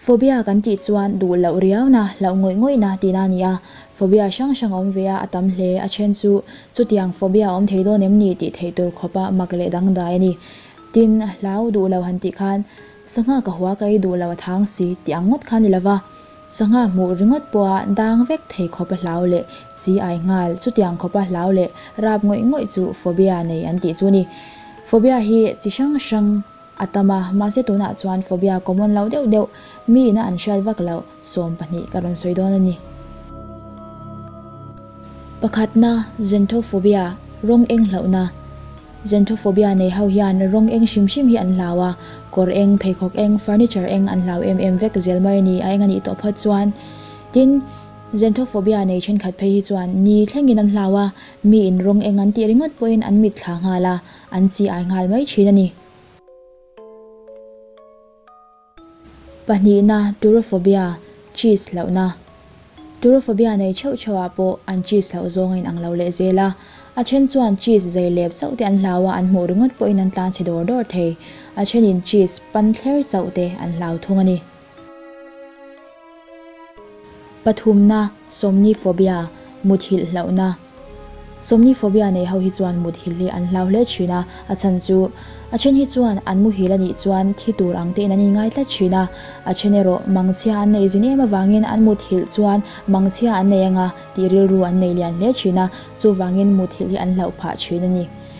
Phobia kan tih chuan duh loh riauna, hlauh ngawih ngawihna tihna a ni a. Phobia hrang hrang a awm ve a, a tam hle. A then chu chutiang phobia a awm thei dawn em ni tih theih tur khawpa mak leh dangdai a ni. Tin, hlau duh lo han tih khan, Sangha ka hua ka ei duh lo a thang si tih ang ngawt kha a ni lo va, sangha hmuh ringawt pawha dang vek thei khawpa hlau leh chi ai nghal chutiang khawpa hlau leh rap ngawih ngawih chu phobia nei an tih chu a ni. Phobia hi chi hrang hrang a tam a, mahse tunah chuan phobia common lo deuh deuh mi ina an hriat vak loh sawm pahnih ka rawn sawi dawn a ni. Pakhatna, xentophobia, rawng eng hlauhna. Xanthophobia nei ho hian rawng eng hrim hrim hi an hlau a, kawr eng, pheikhawk eng, furniture eng an hlau em em vek zel mai a ni, a eng a nih tawh phawt chuan. Tin, Xanthophobia nei thenkhat phei hi chuan ni thlengin an hlau a, miin rawng eng an tih ringawt pawhin an mit thla nghal a, an chi ai nghal mai thin a ni. Pahnihna, Turophobia, Cheese hlauhna, Turophobia nei cheuh cheuhah pawh an cheese hlauh zawng a inang lo leh zel a. A then chuan cheese zai lep chauhte an hlau a, an hmuh ringawt pawhin an tlang chhe dawr dawr thei. A thenin cheese pan thler chauhte an hlau thung a ni. Pathumna, Somniphobia, Muthilh hlauhna, Somniphobia nei ho hi chuan muthilh hi an hlau hle thin a, a chhan chu, A then hi chuan an muhil a nih chuan thi tur ang te in an inngai tlat thin a, a then erawh mangchhia an nei zin em avangin an muthilh chuan mangchhia an nei anga tih rilru an nei lian hle thin a, chuvangin muthilh hi an hlauh phah thin a ni.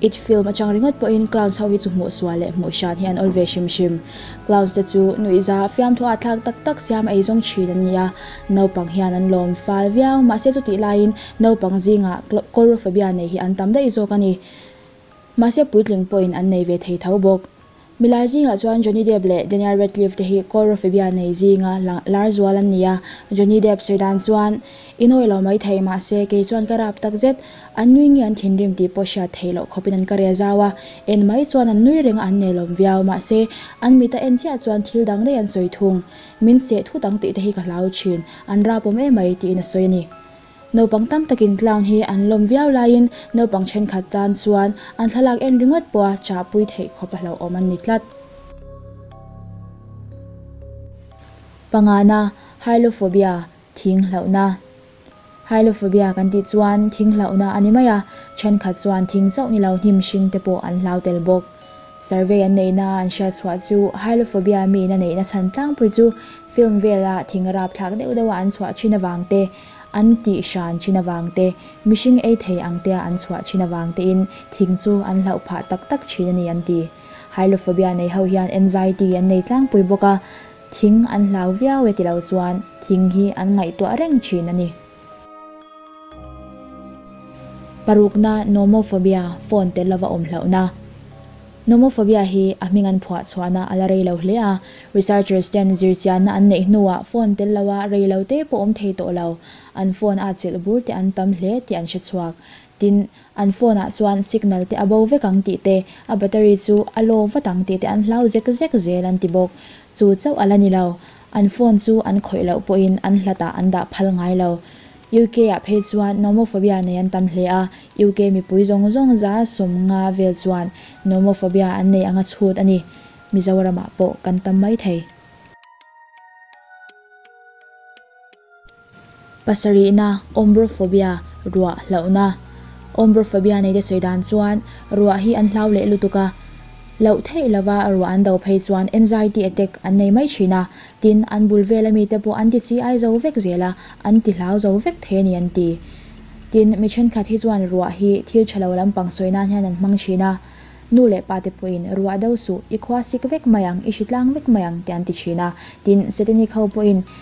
It film atang ringawt pawhin clowns ho hi chu hmuhsual leh hmuhsian hi an awlh ve hrim hrim. Clowns te chu nuihza fiamthu ah thlak tak tak siam ei zawng thin an ni a, naupang hian an lawm fal viau, mahse chuti laiin naupang zingah coral phobia nei hi an tam daih zawk a ni. Mahse puitling pawhin an nei ve thei tho bawk. Milai zingah chuan Johnny Depp leh Daniel Radcliffe te hi kawr rawfebia nei zinga lang lar zual an ni a. Johnny Depp sawi dan chuan, I nawi lo mai thei mahse kei chuan ka rap tak zet. An nui nge an thinrim tih pawh hriat theih loh khawpin an ka reh zau a. En mai chuan an nui renga an nei lawm viau. Mahse, an mit a en chiah chuan thil dang dai an sawi thung. Min seh thut ang tih te hi ka hlau thin. An rap awm emai, tiin a sawi a ni. Naupang tam takin clown hi an lawm viau laiin naupang thenkhat tan chuan an thlalak en ringawt pawha chahpui theih khawp a hlauhawm an ni tlat. Pangana, Hylophobia, Thing hlauhna. Hylophobia kan tih chuan thing hlauhna a ni mai a, thenkhat chuan thing chauh ni lo hnim hringte pawh an hlau tel bawk. Survey an neihna an hriatchhuah chu Hylophobia miin a neihna chhan tlangpui chu film vela thing rap thlak deuh deuha an chhuah thin avangte, an tih hran thin avangte, mihring ei thei ang tea an chhuah thin avangtein thing chu an hlauh phah tak tak thin a ni an ti. Hylophobia nei ho hian anxiety an nei tlangpui bawk a, thing an hlau viau e tilo chuan thing hi an ngaihtuah reng thin a ni. Parukna, Nomophobia, phone telh lova awm hlauhna. Nomophobia hi a hming an phuah chhuahna a la rei lo hle a. Researchers ten zir chianna an neih hnuah phone telh lova rei lo te pawh awm thei tawh lo. An phone a chelh bur te an tam hle tih an hre chhuak. Tin, an phone ah chuan signal te a bo vek ang tih te, a battery chu a low vat ang tih te an hlau zek zek zel an ti bawk. Chu chauh a la ni lo. An phone chu an khawih loh pawhin an hlatah an dah phal ngai lo. UK-ah phei chuan Nomophobia nei an tam hle a, UK mipui zawng zawng za sawm nga vel chuan Nomophobia an nei anga chhut a ni. Mizoramah pawh kan tam mai thei. Pasarihna, Ombrophobia, Ruah hlauhna, Ombrophobia nei te sawi dan chuan ruah hi an hlau leh lutuk a, hlauh theih lova ruah an do phei chuan anxiety attack an nei mai thin a, tin an bul vel ami te pawh an ti chi ai zo vek zel a, an ti hlau zo vek thei a ni an ti. Tin, mi thenkhat hi chuan ruah hi thil tha lo lampang sawi nan hian an hmang thin a, nu leh pa te pawhin ruah do suh, i khua sik vek mai ang, i hri tlang vek mai ang tih an ti thin a, tin Satanic ho pawhin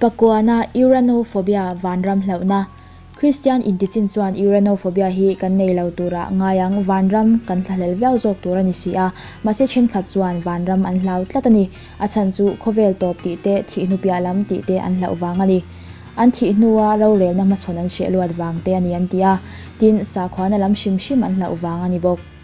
Pakuana, Uranophobia, Vanram hlauhna, Kristian intichin chuan Uranophobia hi kan nei lo turah ngai ang, vanram kan thlahlel viau zawk tur a ni si a, mahse thenkhat chuan vanram an hlau tlat a ni, a chhan chu khawvel tawp tih te, thih hnu piah lam tih te an hlauh vang a ni. An thih hnua rorelna hmachhawn an hriah luat vang te a ni an ti a, tin sakhuana lam hrim hrim an hlauh vang a ni bawk.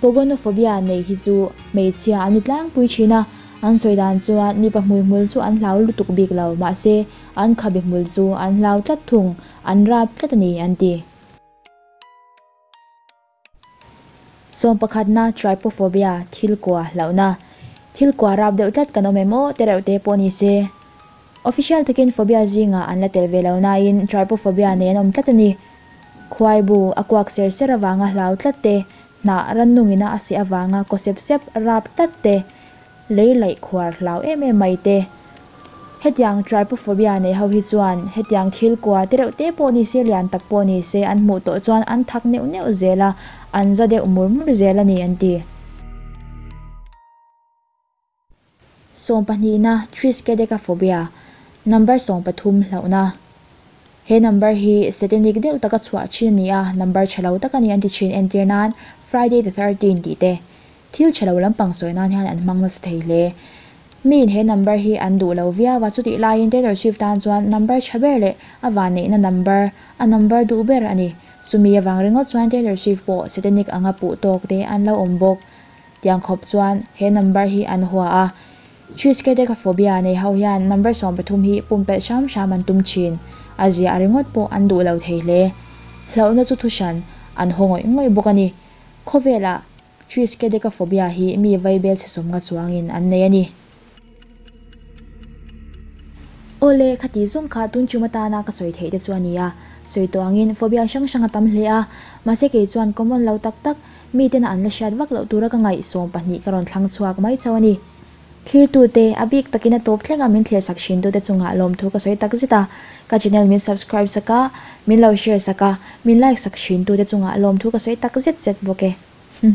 Pogonophobia neih hi chu hmeichhia an ni tlangpui thin a, an sawi dan chuan mipa hmuihmul chu an hlau lutuk bik lo mahse an khabe hmul chu an hlau tlat thung, an rap tlat a ni an ti. Sawm pakhatna Trypophobia, thil kua hlauhna. Thil kua rap deuh tlat kan awm em aw, te reuh te pawh ni se Official takin phobia zingah an la tel ve lo nain trypophobia nei an awm tlat a ni. Khuaibu, a kuak ser ser avanga hlau tlat te, hnah rannungina a seh avanga kaw sep sep rap tlat te, lei laih khuar hlau em em mai te. Hetiang trypophobia nei ho hi chuan hetiang thil kua te reuh te pawh ni se, lian tak pawh ni se an hmuh tawh chuan an thak neuh neuh zel a, an za deuh mur mur zel a ni, an ti. Sawm pahnihna, Triskaidekaphobia, number sawm pathum hlauhna. He number hi Satanic deuh taka chhuah thin a ni a, number tha lo tak a ni an ti thin entir nan Friday the thirteen tih te thil tha lo lampang sawi nan hian an hmang nasa thei hle. Miin he number hi an duh lo viau a, chutih laiin Taylor Swift tan chuan number tha ber leh a van neihna number a number duh ber a ni. Chumi avang ringawt chuan Taylor Swift pawh Satanic anga puh tawk te an lo awm bawk. Tiang khawp chuan he number hi an hua a. Triskaidekaphobia nei ho hian number sawm pathum hi pumpelh hram hram an tum thin. A zia a ringawt pawh an duh lo thei hle. Hlauhna chu thu hran an haw ngawih ngawih bawk a ni. Khawvelah Triskaidekaphobia hi mi vaibel chhe sawmnga chuangin an nei a ni. Awle, kha tih zawng kha tun chum atana ka sawi theih te chu a ni a, sawi tawh angin phobia hrang hrang a tam hle a, mahse kei chuan common lo tak tak, mitena an la hriat vak loh tura ka ngaihsawm pahnih ka rawn thlang chhuak mai chauh a ni. Thiltute, a bik takin a tawp thleng a, min thirsak thintu'te chungah lawmthu ka sawi tak zet a, ka channel min subscribe sak a, min lo share sak a, min like sak thintu'te chungah lawmthu ka sawi tak zet zet bawk e. Hum.